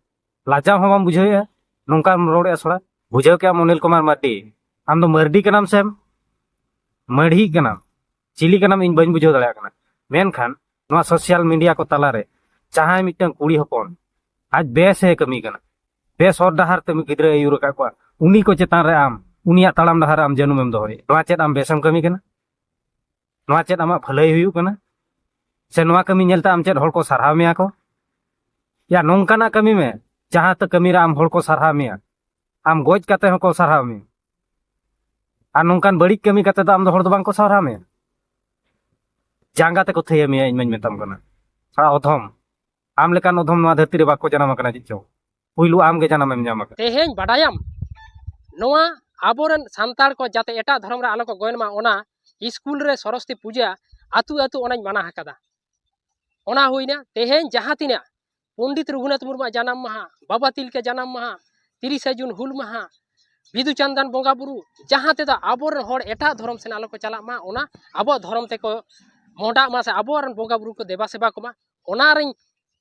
ᱞᱟᱡᱟᱣ ᱦᱚᱸ ᱵᱟᱢ ᱵᱩᱡᱷᱟᱹᱣᱮᱫᱼᱟ ᱱᱚᱝᱠᱟᱢ ᱨᱚᱲᱮᱫᱼᱟ ᱥᱚᱲᱟ ᱵᱩᱡᱷᱟᱹᱣ ᱠᱮᱜᱼᱟᱢ ᱚᱱᱤᱞ ᱠᱩᱢᱟᱨ ᱢᱟᱨᱰᱤ ᱟᱢ ᱫᱚ ᱢᱟᱨᱰᱤ ᱠᱟᱱᱟᱢ ᱥᱮᱢ ᱢᱟᱹᱲᱦᱤ ᱠᱟᱱᱟᱢ ᱪᱤᱞᱤ ᱠᱟᱱᱟᱢ ᱤᱧ ᱵᱟᱹᱧ ᱵᱩᱡᱷᱟᱹᱣ ᱫᱟᱲᱮᱭᱟᱜ ᱠᱟᱱᱟ ᱢᱮᱱᱠᱷᱟᱱ ᱱᱚᱣᱟ ᱥᱳᱥᱤᱭᱟᱞ ᱢᱤᱰᱤᱭᱟ ᱠᱚ ᱛᱟᱞᱟᱨᱮ ᱡᱟᱦᱟᱸᱭ ᱢᱤᱫᱴᱟᱝ ᱠᱩᱲᱤ ᱦᱚᱯᱚᱱ ᱟᱡ ᱵᱮᱥᱮ ᱠᱟᱹᱢᱤ ᱠᱟᱱᱟ ᱵᱮᱥ ᱦᱚᱨ ᱰᱟᱦᱟᱨ ᱛᱮ ᱜᱤᱫᱽᱨᱟᱹ ᱟᱹᱭᱩᱨ ᱟᱠᱟᱫ ᱠᱚᱣᱟ ᱩᱱᱤ ᱠᱚ ᱪᱮᱛᱟᱱ ᱨᱮ ᱟᱢ ᱩᱱᱤᱭᱟᱜ ᱛᱟᱲᱟᱢ ᱰᱟᱦᱟᱨ ᱟᱢ ᱡᱟᱹᱱᱩᱢᱮᱢ ᱫᱚᱦᱚᱭᱮᱫ ᱱᱚᱣᱟ ᱪᱮᱫ ᱟᱢ ᱵᱮᱥᱮᱢ ᱠᱟᱹᱢᱤ ᱠᱟᱱᱟ ᱱᱚᱣᱟ ᱪᱮᱫ ᱟᱢᱟᱜ ᱵᱷᱟᱹᱞᱟᱹᱭ ᱦᱩᱭᱩᱜ ᱠᱟᱱᱟ ᱥᱮ ᱱᱚᱣᱟ ᱠᱟᱹᱢᱤ ᱧᱮᱞᱛᱮ ᱟᱢ ᱪᱮᱫ ᱦᱚᱲ ᱠᱚ ᱥᱟᱨᱦᱟᱣ ᱢᱮᱭᱟ ᱠᱚ ᱭᱟ ᱱᱚᱝᱠᱟᱱᱟᱜ ᱠᱟᱹᱢᱤ ᱢᱮ ᱡᱟᱦᱟᱸ ᱛᱮ ᱠᱟᱹᱢᱤ ᱨᱮ ᱟᱢ ᱦᱚᱲ ᱠᱚ ᱥᱟᱨᱦᱟᱣ ᱢᱮᱭᱟ ᱟᱢ ᱜᱚᱡ ᱠᱟᱛᱮ ᱦᱚᱸᱠᱚ ᱥᱟᱨᱦᱟᱣ ᱢᱮᱭᱟ ᱟᱨ ᱱᱚᱝᱠᱟᱱ ᱵᱟᱹᱲᱤᱡ ᱠᱟᱹᱢᱤ ᱠᱟᱛᱮ ᱫᱚ ᱟᱢ ᱫᱚ ᱦᱚᱲ ᱫᱚ ᱵᱟᱝᱠᱚ ᱥᱟᱨᱦᱟᱣ ᱢᱮᱭᱟ ᱡᱟᱸᱜᱟ ᱛᱮᱠᱚ ᱛᱷᱟᱹᱭᱟ ᱢᱮᱭᱟ ᱤᱧ ᱢᱟᱧ ᱢᱮᱛᱟᱢ ᱠᱟᱱᱟ ᱛᱷᱚᱲᱟ ᱚᱫᱷᱚᱢ ᱟᱢ ᱞᱮᱠᱟᱱ ᱚᱫᱷᱚᱢ ᱱᱚᱣᱟ ᱫᱷᱟᱹᱨᱛᱤ ᱨᱮ ᱵᱟᱠᱚ ᱡᱟᱱᱟᱢ ᱟᱠᱟᱱᱟ ᱪᱮᱫ ᱪᱚᱝ ᱯᱩᱭᱞᱩ ᱟᱢ ᱜᱮ ᱡᱟᱱᱟᱢ ᱮᱢ ᱧᱟᱢ ᱟᱠᱟᱫᱟ ᱛᱮᱦᱮᱧ ᱵᱟᱰᱟᱭᱟᱢ ᱱᱚᱣᱟ ᱟᱵᱚᱨᱮᱱ ᱥᱟᱱᱛᱟᱲ ᱠᱚ ᱡᱟᱛᱮ ᱮᱴᱟᱜ ᱫᱷᱚᱨᱚᱢ ᱨᱮ ᱟᱞᱚ ᱠᱚ ᱜᱚᱭᱚᱱ ᱢᱟ ᱚᱱᱟ ᱥᱠᱩᱞ ᱨᱮ ᱥᱚᱨᱚᱥᱛᱤ ᱯᱩᱡᱟ ᱟᱛᱩ ᱟᱛᱩ ᱚᱱᱟᱧ ᱢᱟᱱᱟ ᱟᱠᱟᱫᱟ ᱚᱱᱟ ᱦᱩᱭᱱᱟ ᱛᱮᱦᱮᱧ ᱡᱟᱦᱟᱸ ᱛᱤᱱᱟᱹᱜ ᱯᱚᱱᱰᱤᱛ ᱨᱚᱜᱷᱩᱱᱟᱛᱷ ᱢᱩᱨᱢᱩᱣᱟᱜ ᱡᱟᱱᱟᱢ ᱢᱟᱦᱟ ᱵᱟᱵᱟ ᱛᱤᱞᱠᱟᱹ ᱡᱟᱱᱟᱢ ᱢᱟᱦᱟ ᱛᱤᱨᱤᱥᱟ ᱡᱩᱱ ᱦᱩᱞ ᱢᱟᱦᱟ ᱵᱤᱫᱩ ᱪᱟᱱᱫᱟᱱ ᱵᱚᱸᱜᱟ ᱵᱩᱨᱩ ᱡᱟᱦᱟᱸ ᱛᱮᱫᱚ ᱟᱵᱚᱨᱮᱱ ᱦᱚᱲ ᱮᱴᱟᱜ ᱫᱷᱚᱨᱚᱢ ᱥᱮᱱ ᱟᱞᱚ ᱠᱚ ᱪᱟᱞᱟᱜ ᱢᱟ ᱚᱱᱟ ᱟᱵᱚᱣᱟᱜ ᱫᱷᱚᱨᱚᱢ ᱛᱮᱠᱚ ᱢᱚᱰᱟᱜ ᱢᱟ ᱥᱮ ᱟᱵᱚᱨᱮᱱ ᱵᱚᱸᱜᱟ ᱵᱩᱨᱩ ᱠᱚ ᱫᱮᱵᱟ ᱥᱮᱵᱟ ᱠᱚᱢᱟ ᱚᱱᱟᱨᱤᱧ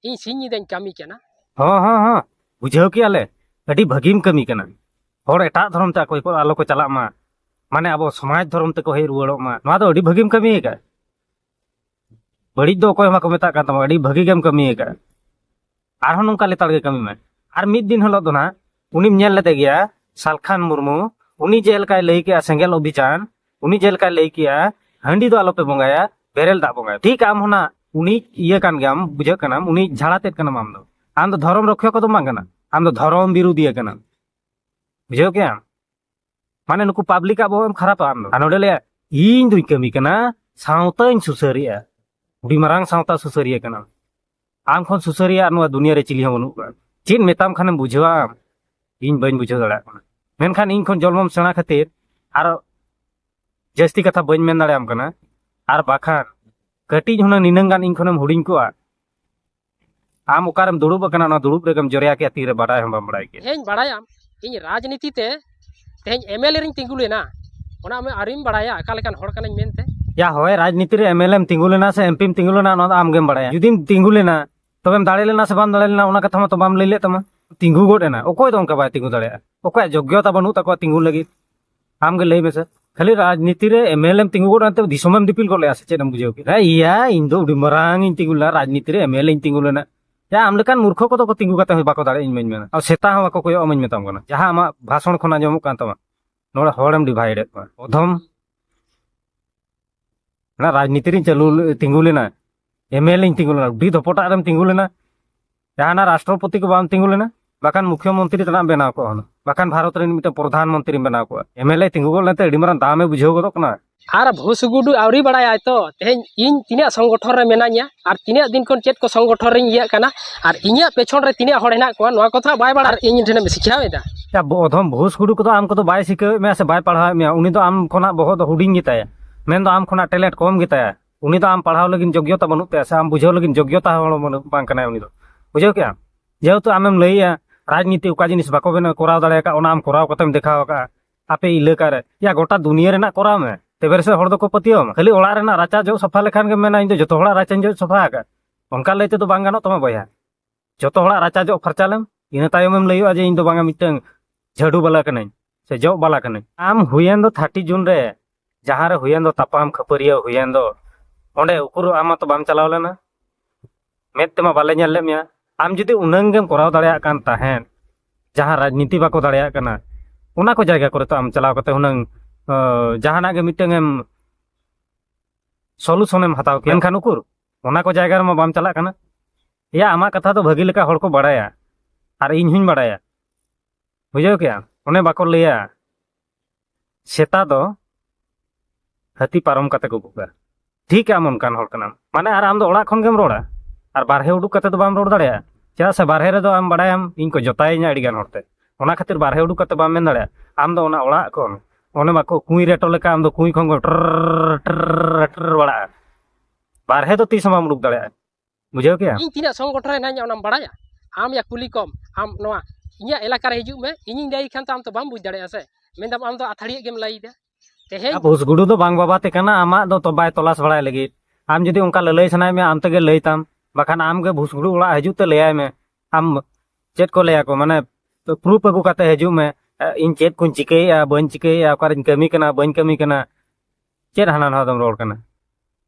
ᱤᱧ ᱥᱤᱧ ᱧᱤᱫᱟᱹᱧ ᱠᱟᱹᱢᱤ ᱠᱟᱱᱟ ᱦᱚᱸ ᱦᱚᱸ ᱦᱚᱸ ᱵᱩᱡᱷᱟᱹᱣ ᱠᱮᱜᱼᱟ ᱞᱮ ᱟᱹᱰᱤ ᱵᱷᱟᱹᱜᱤᱢ ᱠᱟᱹᱢᱤ ᱠᱟᱱᱟ ᱦᱚᱲ ᱮᱴᱟᱜ ᱫᱷᱚᱨᱚᱢ ᱛᱮ ᱚᱠᱚᱭ ᱠᱚ ᱟᱞᱚ ᱠᱚ ᱪᱟᱞᱟᱜ ᱢᱟ ᱢᱟᱱᱮ ᱟᱵᱚ ᱥᱚᱢᱟᱡᱽ ᱫᱷᱚᱨᱚᱢ ᱛᱮᱠᱚ ᱦᱮᱡ ᱨᱩᱣᱟᱹᱲᱚᱜ ᱢᱟ ᱱᱚᱣᱟ ᱫᱚ ᱟᱹᱰᱤ ᱵᱷᱟᱹᱜᱤᱢ ᱠᱟᱹᱢᱤ ᱟᱠᱟᱫ ᱵᱟᱹᱲᱤᱡ ᱫᱚ ᱚᱠᱚᱭ ᱦᱚᱸ ᱵᱟᱠᱚ ᱢᱮᱛᱟᱜ ᱠᱟᱱ ᱛᱟᱢᱟ ᱟᱹᱰᱤ ᱵᱷᱟᱹᱜᱤ ᱜᱮᱢ ᱠᱟᱹᱢᱤ ᱟᱠᱟᱫ ᱟᱨᱦᱚᱸ ᱱᱚᱝᱠᱟ ᱞᱮᱛᱟᱲ ᱜᱮ ᱠᱟᱹᱢᱤ ᱢᱮ ᱟᱨ ᱢᱤᱫ ᱫᱤᱱ ᱦᱤᱞᱳᱜ ᱫᱚ ᱱᱟᱦᱟᱜ ᱩᱱᱤᱢ ᱧᱮᱞ ᱞᱮᱫᱮ ᱜᱮᱭᱟ ᱥᱟᱞᱠᱷᱟᱱ ᱢᱩᱨᱢᱩ ᱩᱱᱤ ᱡᱮ ᱞᱮᱠᱟᱭ ᱞᱟᱹᱭ ᱠᱮᱜᱼᱟ ᱥᱮᱸᱜᱮᱞ ᱚᱵᱷᱤᱡᱟᱱ ᱩᱱᱤ ᱡᱮ ᱞᱮᱠᱟᱭ ᱞᱟᱹᱭ ᱠᱮᱜᱼᱟ ᱦᱟᱺᱰᱤ ᱫᱚ ᱟᱞᱚᱯᱮ ᱵᱚᱸᱜᱟᱭᱟ ᱵᱮᱨᱮᱞ ᱫᱟᱜ ᱵᱚᱸᱜᱟᱭᱟ ᱴᱷᱤᱠ ᱟᱢ ᱦᱚᱸ ᱱᱟᱜ ᱩᱱᱤ ᱤᱭᱟᱹ ᱠᱟᱱ ᱜᱮᱭᱟᱢ ᱵᱩᱡᱷᱟᱹᱜ ᱠᱟᱱᱟᱢ ᱩᱱᱤ ᱡᱷᱟᱲᱟ ᱛᱮᱫ ᱠᱟᱱᱟᱢ ᱟᱢ ᱫᱚ ᱟᱢ ᱫᱚ ᱫᱷᱚᱨᱚᱢ ᱨᱚᱠᱷᱭᱟ ᱠᱚᱫᱚ ᱵᱟᱝ ᱠᱟᱱᱟ ᱟᱢ ᱫᱚ ᱫᱷᱚᱨᱚᱢ ᱵᱤᱨᱩᱫᱷᱤᱭᱟᱹ ᱠᱟᱱᱟᱢ ᱵᱩᱡᱷᱟᱹᱣ ᱠᱮᱜᱼᱟᱢ ᱢᱟᱱᱮ ᱱᱩᱠᱩ ᱯᱟᱵᱽᱞᱤᱠᱟᱜ ᱵᱚᱦᱚᱜ ᱮᱢ ᱠᱷᱟᱨᱟᱯᱟ ᱟᱢ ᱟᱨ ᱱᱚᱰᱮ ᱞᱟᱹᱭᱟ ᱤᱧ ᱫᱩᱧ ᱠᱟᱹᱢᱤ ᱠᱟᱱᱟ ᱥᱟᱶᱛᱟᱧ ᱥᱩᱥᱟᱹᱨᱮᱜᱼᱟ ᱟᱹᱰᱤ ᱢᱟᱨᱟᱝ ᱥᱟᱶᱛᱟ ᱥᱩᱥᱟᱹᱨᱤᱭᱟᱹ ᱠᱟᱱᱟᱢ ᱟᱢ ᱠᱷᱚᱱ ᱥᱩᱥᱟᱹᱨᱤᱭᱟᱹ ᱟᱨ ᱱᱚᱣᱟ ᱫᱩᱱᱤᱭᱟᱹ ᱨᱮ ᱪᱤᱞᱤ ᱦᱚᱸ ᱵᱟᱹᱱᱩᱜ ᱠᱚᱣᱟ ᱪᱮᱫ ᱢᱮᱛᱟᱢ ᱠᱷᱟᱱᱮᱢ ᱵᱩᱡᱷᱟᱹᱣᱟ ᱟᱢ ᱤᱧ ᱵᱟᱹᱧ ᱵᱩᱡᱷᱟᱹᱣ ᱫᱟᱲᱮᱭᱟᱜ ᱠᱟᱱᱟ ᱢᱮᱱᱠᱷᱟᱱ ᱤᱧ ᱠᱷᱚᱱ ᱡᱚᱞᱢᱚᱢ ᱥᱮᱬᱟ ᱠᱷᱟᱹᱛᱤᱨ ᱟᱨ ᱡᱟᱹᱥᱛᱤ ᱠᱟᱛᱷᱟ ᱵᱟᱹᱧ ᱢᱮᱱ ᱫᱟᱲᱮᱭᱟᱢ ᱠᱟᱱᱟ ᱟᱨ ᱵᱟᱠᱷᱟᱱ ᱠᱟᱹᱴᱤᱡ ᱦᱩᱱᱟᱹᱝ ᱱᱤᱱᱟᱹᱝ ᱜᱟᱱ ᱤᱧ ᱠᱷᱚᱱᱮᱢ ᱦᱩᱰᱤᱧ ᱠᱚᱜᱼᱟ ᱟᱢ ᱚᱠᱟᱨᱮᱢ ᱫᱩᱲᱩᱵ ᱟᱠᱟᱱᱟ ᱚᱱᱟ ᱫᱩᱲᱩᱵ ᱨᱮᱜᱮᱢ ᱡᱚᱨᱭᱟ ᱠᱮᱫ ᱛᱤᱨᱮ ᱵᱟᱰᱟᱭ ᱦᱚᱸ ᱵᱟᱢ ᱵᱟᱲᱟᱭ ᱠᱮᱫ ᱤᱧ ᱵᱟᱲᱟᱭᱟᱢ ᱤᱧ ᱨᱟᱡᱽᱱᱤᱛᱤ ᱛᱮ ᱛᱮᱦᱮᱧ ᱮᱢᱮᱞᱮ ᱨᱤᱧ ᱛᱤᱸᱜᱩ ᱞᱮᱱᱟ ᱚᱱᱟ ᱟᱢ ᱟᱹᱣᱨᱤᱢ ᱵᱟᱲᱟᱭᱟ ᱚᱠᱟ ᱞᱮᱠᱟᱱ ᱦᱚᱲ ᱠᱟᱹᱱᱟᱹᱧ ᱢᱮᱱᱛᱮ ᱭᱟ ᱦᱳᱭ ᱨᱟᱡᱽᱱᱤᱛᱤ ᱨᱮ ᱮᱢᱮᱞᱮᱢ ᱛᱤᱸᱜᱩ ᱞᱮᱱᱟ ᱥᱮ ᱮᱢᱯᱤᱢ ᱛᱤᱸᱜᱩ ᱞᱮᱱᱟ ᱚᱱᱟ ᱫᱚ ᱟᱢᱜᱮᱢ ᱵᱟᱲᱟᱭᱟ ᱡᱩᱫᱤᱢ ᱛᱤᱸᱜᱩ ᱞᱮᱱᱟ ᱛᱚᱵᱮᱢ ᱫᱟᱲᱮ ᱞᱮᱱᱟ ᱥᱮ ᱵᱟᱢ ᱫᱟᱲᱮ ᱞᱮᱱᱟ ᱚᱱᱟ ᱠᱟᱛᱷᱟ ᱢᱟᱛᱚ ᱵᱟᱢ ᱞᱟᱹᱭ ᱞᱮᱫ ᱛᱟᱢᱟ ᱛᱤᱸᱜᱩ ᱜᱚᱫ ᱮᱱᱟ ᱚᱠᱚᱭ ᱫᱚ ᱚᱱᱠᱟ ᱵᱟᱭ ᱛᱤᱸᱜᱩ ᱫᱟᱲᱮᱭᱟᱜᱼᱟ ᱚᱠᱚᱭᱟᱜ ᱡᱳᱜᱽᱭᱚᱛᱟ ᱵᱟᱹᱱᱩᱜ ᱛᱟᱠᱚᱣᱟ ᱛᱤᱸᱜᱩ ᱞᱟᱹᱜᱤᱫ ᱟᱢᱜᱮ ᱞᱟᱹᱭ ᱢᱮᱥᱮ ᱠᱷᱟᱹᱞᱤ ᱨᱟᱡᱽᱱᱤᱛᱤ ᱨᱮ ᱮᱢ ᱮᱞ ᱮᱢ ᱛᱤᱸᱜᱩ ᱜᱚᱫ ᱮᱱᱛᱮ ᱫᱤᱥᱚᱢᱮᱢ ᱫᱤᱯᱤᱞ ᱜᱚᱫ ᱞᱮᱜᱼᱟ ᱥᱮ ᱪᱮᱫ ᱮᱢ ᱵᱩᱡᱷᱟᱹᱣ ᱠᱮᱫᱟ ᱤᱭᱟ ᱤᱧ ᱫᱚ ᱟᱹᱰᱤ ᱢᱟᱨᱟᱝ ᱤᱧ ᱛᱤᱸᱜᱩ ᱞᱮᱱᱟ ᱨᱟᱡᱽᱱᱤᱛᱤ ᱨᱮ ᱮᱢ ᱮᱞ ᱤᱧ ᱛᱤᱸᱜᱩ ᱞᱮᱱᱟ ᱡᱟ ᱟᱢ ᱞᱮᱠᱟᱱ ᱢᱩᱨᱠᱷᱚ ᱠᱚᱫᱚ ᱠᱚ ᱛᱤᱸᱜᱩ ᱠᱟᱛᱮ ᱦᱚᱸ ᱵᱟᱠᱚ ᱫᱟᱲᱮᱭᱟᱜᱼᱟ ᱤᱧ ᱢᱟᱹᱧ ᱢᱮᱱᱟ ᱟᱨ ᱥᱮᱛᱟ ᱦᱚᱸ ᱵᱟᱠᱚ ᱠᱚᱭᱚᱜ ᱟᱢᱟᱧ ᱢᱮᱛᱟᱢ ᱠᱟᱱᱟ ᱡᱟᱦᱟᱸ ᱟᱢᱟᱜ ᱵᱷᱟᱥᱚᱱ ᱠᱷᱚᱱ ᱟᱸᱡᱚᱢᱚᱜ ᱠᱟᱱ ᱛᱟᱢᱟ ᱱᱚᱰᱮ ᱦᱚᱲᱮᱢ ᱰᱤᱵᱷᱟᱭᱤᱰ ᱮᱫ ᱠᱚᱣᱟ ᱚᱫᱷᱚᱢ ᱚᱱᱟ ᱨᱟᱡᱽᱱᱤᱛᱤ ᱨᱤᱧ ᱪᱟᱹᱞᱩ ᱛᱤᱸᱜᱩ ᱞᱮᱱᱟ ᱮᱢ ᱮᱞ ᱮᱧ ᱛᱤᱸᱜᱩ ᱞᱮᱱᱟ ᱩᱰᱤ ᱫᱚᱯᱚᱴᱟᱜ ᱨᱮᱢ ᱛᱤᱸᱜᱩ ᱞᱮᱱᱟ ᱡᱟᱦᱟᱱᱟᱜ ᱨᱟᱥᱴᱨᱚᱯᱚᱛᱤ ᱠᱚ ᱵᱟᱢ ᱛᱤᱸᱜᱩ ᱞᱮᱱᱟ ᱵᱟᱠᱷᱟᱱ ᱢᱩᱠᱷᱭᱚ ᱢᱚᱱᱛᱨᱤ ᱛᱮᱱᱟᱜ ᱵᱮᱱᱟᱣ ᱠᱚᱜᱼᱟ ᱦᱩᱱᱟᱹᱝ ᱵᱟᱠᱷᱟᱱ ᱵᱷᱟᱨᱚᱛ ᱨᱮᱱ ᱢᱤᱫᱴᱟᱝ ᱯᱨᱚᱫᱷᱟᱱ ᱢᱚᱱᱛᱨᱤᱢ ᱵᱮᱱᱟᱣ ᱠᱚᱜᱼᱟ ᱮᱢ ᱮᱞ ᱮ ᱛᱤᱸᱜᱩ ᱜᱚᱫ ᱞᱮᱱᱛᱮ ᱟᱹᱰᱤ ᱢᱟᱨᱟᱝ ᱫᱟᱢᱮ ᱵᱩᱡᱷᱟᱹᱣ ᱜᱚᱫᱚᱜ ᱠᱟᱱᱟ ᱟᱨ ᱵᱷᱩᱥᱜᱩᱰᱩ ᱟᱹᱣᱨᱤ ᱵᱟᱲᱟᱭᱟᱭ ᱛᱚ ᱛᱮᱦᱮᱧ ᱤᱧ ᱛᱤᱱᱟᱹᱜ ᱥᱚᱝᱜᱚᱴᱷᱚᱱ ᱨᱮ ᱢᱮᱱᱟᱧᱟ ᱟᱨ ᱛᱤᱱᱟᱹᱜ ᱫᱤᱱ ᱠᱷᱚᱱ ᱪᱮᱫ ᱠᱚ ᱥᱚᱝᱜᱚᱴᱷᱚᱱ ᱨᱮᱧ ᱤᱭᱟᱹᱜ ᱠᱟᱱᱟ ᱟᱨ ᱤᱧᱟᱹᱜ ᱯᱮᱪᱷᱚᱱ ᱨᱮ ᱛᱤᱱᱟᱹᱜ ᱦᱚᱲ ᱦᱮᱱᱟᱜ ᱠᱚᱣᱟ ᱱᱚᱣᱟ ᱠᱚᱫᱚ ᱵᱟᱭ ᱵᱟᱲᱟᱭᱟ ᱤᱧ ᱴᱷᱮᱱᱮᱢ ᱥᱤᱠᱷᱟᱣᱮᱫᱟ ᱚᱫᱷᱚᱢ ᱵᱷᱩᱥᱜᱩᱰᱩ ᱠᱚᱫᱚ ᱟᱢ ᱠᱚᱫᱚ ᱵᱟᱭ ᱥᱤᱠᱷᱟᱹᱣᱮᱫ ᱢᱮᱭᱟ ᱥᱮ ᱵᱟᱭ ᱯᱟᱲᱦᱟᱣᱮᱫ ᱢᱮᱭᱟ ᱩᱱᱤ ᱫᱚ ᱟᱢ ᱠᱷᱚᱱᱟᱜ ᱵᱚᱦᱚᱜ ᱫᱚ ᱦᱩᱰᱤᱧ ᱜᱮᱛᱟᱭᱟ ᱢᱮᱱᱫᱚ ᱟᱢ ᱠᱷᱚᱱᱟᱜ ᱴᱮᱞᱮᱱᱴ ᱠᱚᱢ ᱜᱮᱛᱟᱭᱟ ᱩᱱᱤ ᱫᱚ ᱟᱢ ᱯᱟᱲᱦᱟᱣ ᱞᱟᱹᱜᱤᱫ ᱡᱳᱜᱽᱜᱚᱛᱟ ᱵᱟᱹᱱᱩᱜ ᱛᱟᱭᱟ ᱥᱮ ᱟᱢ ᱵᱩᱡᱷᱟᱹᱣ ᱞᱟᱹᱜᱤᱫ ᱡᱳᱜᱽᱜᱚᱛᱟ ᱦᱚᱲ ᱵᱟᱝ ᱠᱟᱱᱟᱭ ᱩᱱᱤ ᱫᱚ ᱵᱩᱡᱷᱟᱹᱣ ᱠᱮᱜᱼᱟᱢ ᱡᱮᱦᱮᱛᱩ ᱟᱢᱮᱢ ᱞᱟᱹᱭᱮᱜᱼᱟ ᱨᱟᱡᱽᱱᱤᱛᱤ ᱚᱠᱟ ᱡᱤᱱᱤᱥ ᱵᱟᱠᱚ ᱵᱮᱱᱟᱣ ᱠᱚᱨᱟᱣ ᱫᱟᱲᱮ ᱟᱠᱟᱫ ᱚᱱᱟ ᱟᱢ ᱠᱚᱨᱟᱣ ᱠᱟᱛᱮᱢ ᱫᱮᱠᱷᱟᱣ ᱟᱠᱟᱫᱼᱟ ᱟᱯᱮ ᱮᱞᱟᱠᱟ ᱨᱮ ᱭᱟ ᱜᱚᱴᱟ ᱫᱩᱱᱤᱭᱟᱹ ᱨᱮᱱᱟᱜ ᱠᱚᱨᱟᱣ ᱢᱮ ᱛᱚᱵᱮ ᱨᱮᱥᱮ ᱦᱚᱲ ᱫᱚᱠᱚ ᱯᱟᱹᱛᱭᱟᱹᱣ ᱟᱢᱟ ᱠᱷᱟᱹᱞᱤ ᱚᱲᱟᱜ ᱨᱮᱱᱟᱜ ᱨᱟᱪᱟ ᱡᱚᱜ ᱥᱟᱯᱷᱟ ᱞᱮᱠᱷᱟᱱ ᱜᱮᱢ ᱢᱮᱱᱟ ᱤᱧ ᱫᱚ ᱡᱚᱛᱚ ᱦᱚᱲᱟᱜ ᱨᱟᱪᱟᱧ ᱡᱚᱜ ᱥᱟᱯᱷᱟ ᱟᱠᱟᱫᱼᱟ ᱚᱱᱠᱟ ᱞᱟᱹᱭ ᱛᱮᱫᱚ ᱵᱟᱝ ᱜᱟᱱᱚᱜ ᱛᱟᱢᱟ ᱵᱚᱭᱦᱟ ᱡᱚᱛᱚ ᱦᱚᱲᱟᱜ ᱨᱟᱪᱟ ᱡᱚᱜ ᱯᱷᱟᱨᱪᱟ ᱞᱮᱢ ᱤᱱᱟᱹ ᱛᱟᱭᱚᱢᱮᱢ ᱞᱟᱹᱭᱚᱜᱼᱟ ᱡᱮ ᱤᱧ ᱫᱚ ᱵᱟᱝᱟ ᱢᱤᱫᱴᱟᱝ ᱡᱷᱟᱹᱰᱩ ᱵᱟᱞᱟ ᱠᱟᱹᱱᱟᱹᱧ ᱥᱮ ᱡᱚᱜ ᱵᱟᱞᱟ ᱠᱟᱹᱱᱟᱹᱧ ᱟᱢ ᱦᱩᱭᱮᱱ ᱫᱚ ᱛᱷᱟᱨᱴᱤ ᱡᱩᱱ ᱨᱮ ᱡᱟᱦᱟᱸ ᱨᱮ ᱦᱩᱭᱮᱱ ᱫᱚ ᱛᱟᱯᱟᱢ ᱠᱷᱟᱹᱯᱟᱹᱨᱤᱭᱟᱹ ᱦᱩᱭᱮᱱ ᱫᱚ ᱚᱸᱰᱮ ᱩᱠᱩᱨ ᱟᱢ ᱢᱟᱛᱚ ᱵᱟᱢ ᱪᱟᱞᱟᱣ ᱞᱮᱱᱟ ᱢᱮᱫ ᱛᱮᱢᱟ ᱵᱟᱞᱮ ᱧᱮᱞ ᱞᱮᱫ ᱢᱮᱭᱟ ᱟᱢ ᱡᱩᱫᱤ ᱩᱱᱟᱹᱝ ᱜᱮᱢ ᱠᱚᱨᱟᱣ ᱫᱟᱲᱮᱭᱟᱜ ᱠᱟᱱ ᱛᱟᱦᱮᱸᱫ ᱡᱟᱦᱟᱸ ᱨᱟᱡᱽᱱᱤᱛᱤ ᱵᱟᱠᱚ ᱫᱟᱲᱮᱭᱟᱜ ᱠᱟᱱᱟ ᱚᱱᱟ ᱠᱚ ᱡᱟᱭᱜᱟ ᱠᱚᱨᱮ ᱛᱚ ᱟᱢ ᱪᱟᱞᱟᱣ ᱠᱟᱛᱮ ᱦᱩᱱᱟᱹᱝ ᱡᱟᱦᱟᱱᱟᱜ ᱜᱮ ᱢᱤᱫᱴᱟᱝ ᱮᱢ ᱥᱚᱞᱩᱥᱚᱱᱮᱢ ᱦᱟᱛᱟᱣ ᱠᱮᱭᱟ ᱮᱱᱠᱷᱟᱱ ᱩᱠᱩᱨ ᱚᱱᱟ ᱠᱚ ᱡᱟᱭᱜᱟ ᱨᱮᱢᱟ ᱵᱟᱢ ᱪᱟᱞᱟᱜ ᱠᱟᱱᱟ ᱮᱭᱟ ᱟᱢᱟᱜ ᱠᱟᱛᱷᱟ ᱫᱚ ᱵᱷᱟᱹᱜᱤ ᱞᱮᱠᱟ ᱦᱚᱲ ᱠᱚ ᱵᱟᱲᱟᱭᱟ ᱟᱨ ᱤᱧ ᱦᱚᱧ ᱵᱟᱲᱟᱭᱟ ᱵᱩᱡᱷᱟᱹᱣ ᱠᱮᱜᱼᱟ ᱚᱱᱮ ᱵᱟᱠᱚ ᱞᱟᱹᱭᱟ ᱥᱮᱛᱟ ᱫᱚ ᱦᱟᱹᱛᱤ ᱯᱟᱨᱚᱢ ᱠᱟᱛᱮ ᱠᱚ ᱵᱷᱩᱜᱟ ᱴᱷᱤᱠ ᱟᱢ ᱚᱱᱠᱟᱱ ᱦᱚᱲ ᱠᱟᱱᱟᱢ ᱢᱟᱱᱮ ᱟᱨ ᱟᱢ ᱫᱚ ᱚᱲᱟᱜ ᱠᱷᱚᱱ ᱜᱮᱢ ᱨᱚᱲᱟ ᱟᱨ ᱵᱟᱨᱦᱮ ᱩᱰᱩᱠ ᱠᱟᱛᱮ ᱫᱚ ᱵᱟᱢ ᱨᱚᱲ ᱫᱟᱲᱮᱭᱟᱜᱼᱟ ᱪᱮᱫᱟᱜ ᱥᱮ ᱵᱟᱨᱦᱮ ᱨᱮᱫᱚ ᱟᱢ ᱵᱟᱲᱟᱭᱟᱢ ᱤᱧ ᱠᱚ ᱡᱚᱛᱟᱭᱤᱧᱟ ᱟᱹᱰᱤ ᱜᱟᱱ ᱦᱚᱲᱛᱮ ᱚᱱᱟ ᱠᱷᱟᱹᱛᱤᱨ ᱵᱟᱨᱦᱮ ᱩᱰᱩᱠ ᱠᱟᱛᱮ ᱵᱟᱢ ᱢᱮᱱ ᱫᱟᱲᱮᱭᱟᱜᱼᱟ ᱟᱢ ᱫᱚ ᱚᱱᱟ ᱚᱲᱟᱜ ᱠᱷᱚᱱ ᱚᱱᱮ ᱵᱟᱠᱚ ᱠᱩᱸᱭ ᱨᱮᱴᱚ ᱞᱮᱠᱟ ᱟᱢ ᱫᱚ ᱠᱩᱸᱭ ᱠᱷᱚᱱ ᱴᱨ ᱴᱨ ᱵᱟᱲᱟᱜᱼᱟ ᱵᱟᱨᱦᱮ ᱫᱚ ᱛᱤᱥ ᱦᱚᱸ ᱵᱟᱢ ᱩᱰᱩᱠ ᱫᱟᱲᱮᱭᱟᱜᱼᱟ ᱵᱩᱡᱷᱟᱹᱣ ᱠᱮᱭᱟ ᱤᱧ ᱛᱤᱱᱟᱹᱜ ᱥᱚᱝᱜᱚᱴᱷᱚᱱ ᱨᱮ ᱦᱮᱱᱟᱹᱧᱟ ᱚᱱᱟᱢ ᱵᱟᱲᱟᱭᱟ ᱟᱢ ᱭᱟ ᱠᱩᱞᱤ ᱠᱚᱢ ᱟᱢ ᱱᱚᱣᱟ ᱤᱧᱟᱹᱜ ᱮᱞᱟᱠᱟ ᱨᱮ ᱦᱤᱡᱩᱜ ᱢᱮ ᱤᱧᱤᱧ ᱞᱟᱹᱭ ᱠᱷᱟᱱ ᱛᱚ ᱟᱢ ᱛᱚ ᱵᱟᱢ ᱵᱩᱡᱽ ᱫᱟᱲᱮᱭᱟᱜᱼᱟ ᱥᱮ ᱢᱮᱱᱫᱟᱢ ᱟᱢ ᱫᱚ ᱟᱛᱷᱟᱲᱤᱭᱟᱹ ᱜᱮᱢ ᱞᱟᱹᱭᱫᱟ ᱛᱮᱦᱮᱧ ᱵᱷᱩᱥᱜᱩᱰᱩ ᱫᱚ ᱵᱟᱝ ᱵᱟᱵᱟᱛᱮ ᱠᱟᱱᱟ ᱟᱢᱟᱜ ᱫᱚ ᱵᱟᱭ ᱛᱚᱞᱟᱥ ᱵᱟᱲᱟᱭ ᱞᱟᱹᱜᱤᱫ ᱟᱢ ᱡᱩᱫᱤ ᱚᱱᱠᱟ ᱞᱟᱹᱞᱟᱹᱭ ᱥᱟᱱᱟᱭᱮᱫ ᱢᱮᱭᱟ ᱟᱢ ᱛᱮᱜᱮ ᱞᱟᱹᱭ ᱛᱟᱢ ᱵᱟᱠᱷᱟᱱ ᱟᱢ ᱜᱮ ᱵᱷᱩᱥᱜᱩᱰᱩ ᱚᱲᱟᱜ ᱦᱤᱡᱩᱜ ᱛᱮ ᱞᱟᱹᱭᱟᱭ ᱢᱮ ᱟᱢ ᱪᱮᱫ ᱠᱚ ᱞᱟᱹᱭᱟᱠᱚ ᱢᱟᱱᱮ ᱯᱨᱩᱯ ᱟᱹᱜᱩ ᱠᱟᱛᱮ ᱦᱤᱡᱩᱜ ᱢᱮ ᱤᱧ ᱪᱮᱫ ᱠᱚᱧ ᱪᱤᱠᱟᱹᱭᱮᱫᱼᱟ ᱵᱟᱹᱧ ᱪᱤᱠᱟᱹᱭᱮᱫᱼᱟ ᱚᱠᱟᱨᱮᱧ ᱠᱟᱹᱢᱤ ᱠᱟᱱᱟ ᱵᱟᱹᱧ ᱠᱟᱹᱢᱤ ᱠᱟᱱᱟ ᱪᱮᱫ ᱦᱟᱱᱟ ᱱᱟᱣᱟ ᱫᱚᱢ ᱨᱚᱲ ᱠᱟᱱᱟ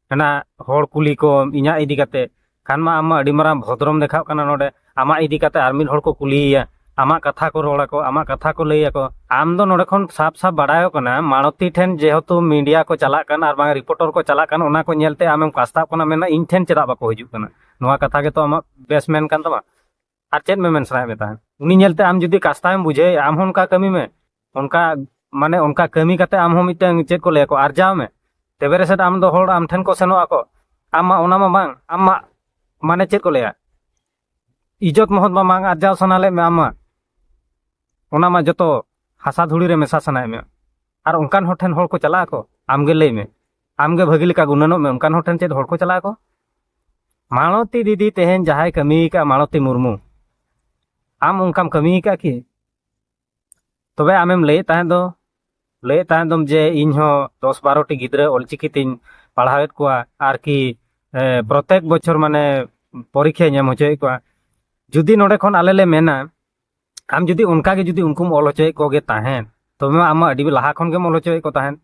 ᱦᱟᱱᱟ ᱦᱚᱲ ᱠᱩᱞᱤ ᱠᱚᱢ ᱤᱧᱟᱹᱜ ᱤᱫᱤ ᱠᱟᱛᱮ ᱠᱷᱟᱱ ᱢᱟ ᱟᱢ ᱢᱟ ᱟᱹᱰᱤ ᱢᱟᱨᱟᱝ ᱵᱷᱚᱫᱨᱚᱢ ᱫᱮᱠᱷᱟᱜ ᱠᱟᱱᱟ ᱱᱚᱰᱮ ᱟᱢᱟᱜ ᱤᱫᱤ ᱠᱟᱛᱮ ᱟᱨ ᱢᱤᱫ ᱦᱚᱲ ᱠᱚ ᱠᱩᱞᱤᱭᱮᱭᱟ ᱟᱢᱟᱜ ᱠᱟᱛᱷᱟ ᱠᱚ ᱨᱚᱲ ᱟᱠᱚ ᱟᱢᱟᱜ ᱠᱟᱛᱷᱟ ᱠᱚ ᱞᱟᱹᱭ ᱟᱠᱚ ᱟᱢ ᱫᱚ ᱱᱚᱰᱮ ᱠᱷᱚᱱ ᱥᱟᱯ ᱥᱟᱯ ᱵᱟᱲᱟᱭᱚᱜ ᱠᱟᱱᱟ ᱢᱟᱲᱚᱛᱤ ᱴᱷᱮᱱ ᱡᱮᱦᱮᱛᱩ ᱢᱤᱰᱤᱭᱟ ᱠᱚ ᱪᱟᱞᱟᱜ ᱠᱟᱱ ᱟᱨ ᱵᱟᱝ ᱨᱤᱯᱳᱨᱴᱚᱨ ᱠᱚ ᱪᱟᱞᱟᱜ ᱠᱟᱱ ᱚᱱᱟ ᱠᱚ ᱧᱮᱞᱛᱮ ᱟᱢᱮᱢ ᱠᱟᱥᱛᱟᱜ ᱠᱟᱱᱟ ᱢᱮᱱᱟ ᱤᱧ ᱴᱷᱮᱱ ᱪᱮᱫᱟᱜ ᱵᱟᱠᱚ ᱦᱤᱡᱩᱜ ᱠᱟᱱᱟ ᱱᱚᱣᱟ ᱠᱟᱛᱷᱟ ᱜᱮᱛᱚ ᱟᱢᱟᱜ ᱵᱮᱥ ᱢᱮᱱ ᱠᱟᱱ ᱛᱟᱢᱟ ᱟᱨ ᱪᱮᱫ ᱢᱮᱢᱮᱱ ᱥᱟᱱᱟᱭᱮᱫ ᱢᱮ ᱛᱟᱦᱮᱸᱫ ᱩᱱᱤ ᱧᱮᱞᱛᱮ ᱟᱢ ᱡᱩᱫᱤ ᱠᱟᱥᱛᱟᱭᱮᱢ ᱵᱩᱡᱷᱟᱹᱣᱮᱫᱼᱟ ᱟᱢ ᱦᱚᱸ ᱚᱱᱠᱟ ᱠᱟᱹᱢᱤ ᱢᱮ ᱚᱱᱠᱟ ᱢᱟᱱᱮ ᱚᱱᱠᱟ ᱠᱟᱹᱢᱤ ᱠᱟᱛᱮ ᱟᱢ ᱦᱚᱸ ᱢᱤᱫᱴᱟᱝ ᱪᱮᱫ ᱠᱚ ᱞᱟᱹᱭᱟᱠᱚ ᱟᱨᱡᱟᱣ ᱢᱮ ᱛᱚᱵᱮ ᱨᱮᱥᱮᱫ ᱟᱢ ᱫᱚ ᱦᱚᱲ ᱟᱢ ᱴᱷᱮᱱ ᱠᱚ ᱥᱮᱱᱚᱜ ᱟᱠᱚ ᱟᱢ ᱢᱟ ᱚᱱᱟ ᱢᱟ ᱵᱟᱝ ᱟᱢ ᱢᱟ ᱢᱟᱱᱮ ᱪᱮᱫ ᱠᱚ ᱞᱟᱹᱭᱟ ᱤᱡᱚᱛ ᱢᱚᱦᱚᱛ ᱢᱟ ᱵᱟᱝ ᱟᱨᱡᱟᱣ ᱥᱟᱱᱟ ᱞᱮᱫ ᱢᱮ ᱟᱢ ᱢᱟ ᱚᱱᱟ ᱢᱟ ᱡᱚᱛᱚ ᱦᱟᱥᱟ ᱫᱷᱩᱲᱤ ᱨᱮ ᱢᱮᱥᱟ ᱥᱟᱱᱟᱭᱮᱫ ᱢᱮ ᱟᱨ ᱚᱱᱠᱟᱱ ᱦᱚᱲ ᱴᱷᱮᱱ ᱦᱚᱲ ᱠᱚ ᱪᱟᱞᱟᱜ ᱟᱠᱚ ᱟᱢᱜᱮ ᱞᱟᱹᱭ ᱢᱮ ᱟᱢᱜᱮ ᱵᱷᱟᱹᱜᱤ ᱞᱮᱠᱟ ᱜᱩᱱᱟᱹᱱᱚᱜ ᱢᱮ ᱚᱱᱠᱟᱱ ᱦᱚᱲ ᱴᱷᱮᱱ ᱪᱮᱫ ᱦᱚᱲ ᱠᱚ ᱪᱟᱞᱟᱜ ᱟᱠᱚ ᱢᱟᱞᱚᱛᱤ ᱫᱤᱫᱤ ᱛᱮᱦᱮᱧ ᱡᱟᱦᱟᱸᱭ ᱠᱟᱹᱢᱤ ᱟᱠᱟᱫ ᱢᱟᱞᱚᱛᱤ ᱢᱩᱨᱢᱩ ᱟᱢ ᱚᱱᱠᱟᱢ ᱠᱟᱹᱢᱤ ᱟᱠᱟᱫ ᱠᱤ ᱛᱚᱵᱮ ᱟᱢᱮᱢ ᱞᱟᱹᱭᱮᱫ ᱛᱟᱦᱮᱸᱫ ᱫᱚ ᱞᱟᱹᱭᱮᱫ ᱛᱟᱦᱮᱸᱫ ᱫᱚᱢ ᱡᱮ ᱤᱧ ᱦᱚᱸ ᱫᱚᱥ ᱵᱟᱨᱚᱴᱤ ᱜᱤᱫᱽᱨᱟᱹ ᱚᱞᱪᱤᱠᱤ ᱛᱤᱧ ᱯᱟᱲᱦᱟᱣᱮᱫ ᱠᱚᱣᱟ ᱟᱨᱠᱤ ᱯᱨᱚᱛᱮᱠ ᱵᱚᱪᱷᱚᱨ ᱢᱟᱱᱮ ᱯᱚᱨᱤᱠᱷᱟᱧ ᱮᱢ ᱦᱚᱪᱚᱭᱮᱫ ᱠᱚᱣᱟ ᱡᱩᱫᱤ ᱱᱚᱰᱮ ᱠᱷᱚᱱ ᱟᱞᱮ ᱞᱮ ᱢᱮᱱᱟ ᱟᱢ ᱡᱩᱫᱤ ᱚᱱᱠᱟᱜᱮ ᱡᱩᱫᱤ ᱩᱱᱠᱩᱢ ᱚᱞ ᱦᱚᱪᱚᱭᱮᱫ ᱠᱚᱜᱮ ᱛᱟᱦᱮᱸᱫ ᱛᱚᱵᱮ ᱢᱟ ᱟᱢ ᱢᱟ ᱟᱹᱰᱤ ᱞᱟᱦᱟ ᱠᱷᱚᱱ ᱜᱮᱢ ᱚᱞ ᱦᱚᱪᱚᱭᱮᱫ ᱠᱚ ᱛᱟᱦᱮᱸᱫ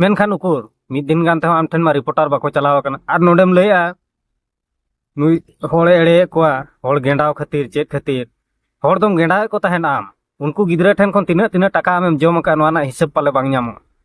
ᱢᱮᱱᱠᱷᱟᱱ ᱩᱠᱩᱨ ᱢᱤᱫ ᱫᱤᱱ ᱜᱟᱱ ᱛᱮᱦᱚᱸ ᱟᱢ ᱴᱷᱮᱱ ᱢᱟ ᱨᱤᱯᱳᱨᱴᱟᱨ ᱵᱟᱠᱚ ᱪᱟᱞᱟᱣ ᱟᱠᱟᱱᱟ ᱟᱨ ᱱᱚᱰᱮᱢ ᱞᱟᱹᱭᱟ ᱱᱩᱭ ᱦᱚᱲᱮ ᱮᱲᱮᱭᱮᱫ ᱠᱚᱣᱟ ᱦᱚᱲ ᱜᱮᱸᱰᱟᱣ ᱠᱷᱟᱹᱛᱤᱨ ᱪᱮᱫ ᱠᱷᱟᱹᱛᱤᱨ ᱦᱚᱲ ᱫᱚᱢ ᱜᱮᱸᱰᱟᱣᱮᱫ ᱠᱚ ᱛᱟᱦᱮᱱ ᱟᱢ ᱩᱱᱠᱩ ᱜᱤᱫᱽᱨᱟᱹ ᱴᱷᱮᱱ ᱠᱷᱚᱱ ᱛᱤᱱᱟᱹᱜ ᱛᱤᱱᱟᱹᱜ ᱴᱟᱠᱟ ᱟᱢᱮᱢ ᱡᱚᱢ ᱟᱠᱟᱫ ᱱᱚᱣᱟ ᱨᱮᱱᱟᱜ ᱦᱤᱥᱟᱹᱵ ᱯᱟᱞᱮ ᱵᱟᱝ ᱧᱟᱢᱚᱜᱼᱟ